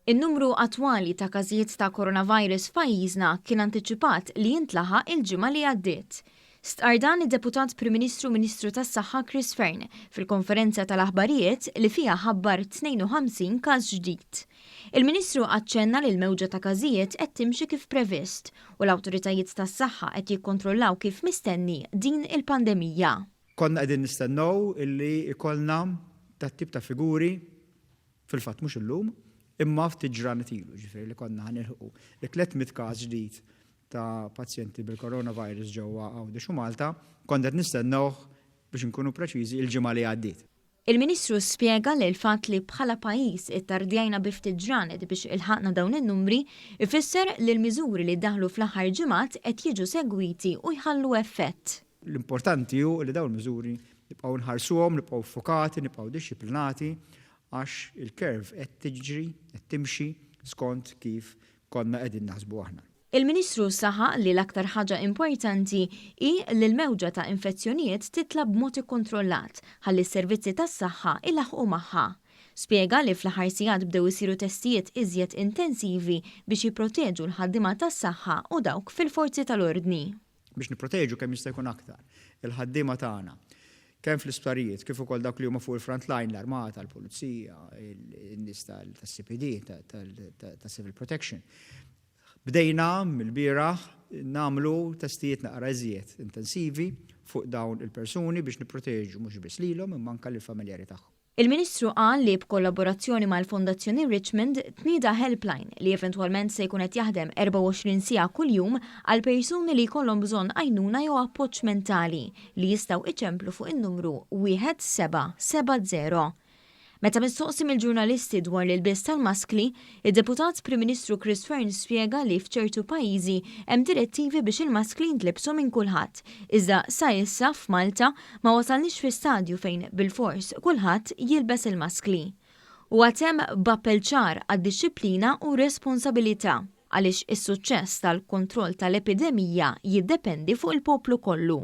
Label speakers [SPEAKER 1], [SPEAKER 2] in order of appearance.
[SPEAKER 1] In-numru attwali ta' każijiet ta' Coronavirus f'pajjiżna kien antiċipat li jintlaħaq il-ġimgħa li għaddiet. Stqarr dan id-Deputat Prim Ministru u Ministru tas-Saħħa Chris Fearne fil-konferenza tal-aħbarijiet li fiha ħabbar 52 każ ġdid. Il-Ministru aċċenna li l-mewġa ta' każijiet qed timxi kif previst u l-awtoritajiet tas-saħħa qed jikkontrollaw kif mistenni din il-pandemija. Konna qegħdin
[SPEAKER 2] nistennew illi jkollna dat-tip ta' figuri, fil-fatt mhux illum, imma ftit ġranet ilu, jiġifieri li konna ħa nilħqu t-tliet mitt każ ġdid ta' pazjenti bil-coronavirus ġewwa Għawdex u Malta, kont qed nistennewh, biex inkunu preċiżi, il-ġimgħa li għaddiet. Il-Ministru
[SPEAKER 1] spjega li l-fatt li bħala pajjiż ittardjajna bi ftit ġranet biex ilħaqna dawn in-numri jfisser li l-miżuri li daħlu fl-aħħar ġimgħat qed jiġu segwiti u jħallu effett. L-importanti hu
[SPEAKER 2] li dawn il-miżuri nibqgħu nħarsuhom, nibqgħu ffukati, nibqgħu dixxiplinati għax il-curve qed tiġri, qed timxi skont kif konna qegħdin naħsbu aħna. Il-Ministru saħaq
[SPEAKER 1] li l-aktar ħaġa importanti hi li l-mewġa ta' infezzjonijiet titla' b'mod ikkontrollat ħalli s-servizzi tas-saħħa ilaħħqu magħha. Spjega li fl-aħħar sigħat bdew isiru testijiet iżjed intensivi biex jipproteġu l-ħaddiema tas-saħħa u dawk fil-forzi tal-ordni. Biex nipproteġu
[SPEAKER 2] kemm jista' jkun aktar il-ħaddiema tagħna kemm fl-isptarijiet kif ukoll dawk li huma fuq il-front line, l-armata, l-pulizija, in-nies tas-CPD, tas-civil protection, Bdejna mill-bieraħ nagħmlu testijiet naqra iżjed intensivi fuq dawn il-persuni biex nipproteġu mhux biss lilhom imma anke lill-familjari tagħhom. Il-Ministru qal
[SPEAKER 1] li b'kollaborazzjoni mal-Fondazzjoni Richmond tnieda helpline li eventwalment se jkun qed jaħdem 24 siegħa kuljum għal persuni li jkollhom bżonn għajnuna jew appoġġ mentali li jistgħu iċemplu fuq in-numru 1770. Meta mistoqsi mill-ġurnalisti dwar l-ilbies tal-maskli, id-Deputat Prim Ministru Chris Fearne spjega li f'ċertu pajjiżi hemm direttivi biex il-maskli jintlibsu minn kulħadd, iżda sa issa f'Malta ma wasalniex fi stadju fejn bilfors kulħadd jilbes il-maskli. Huwa temm b'appell ċar għad-dixxiplina u r-responsabilità għaliex is-suċċess tal-kontroll tal-epidemija jiddependi fuq il-poplu kollu.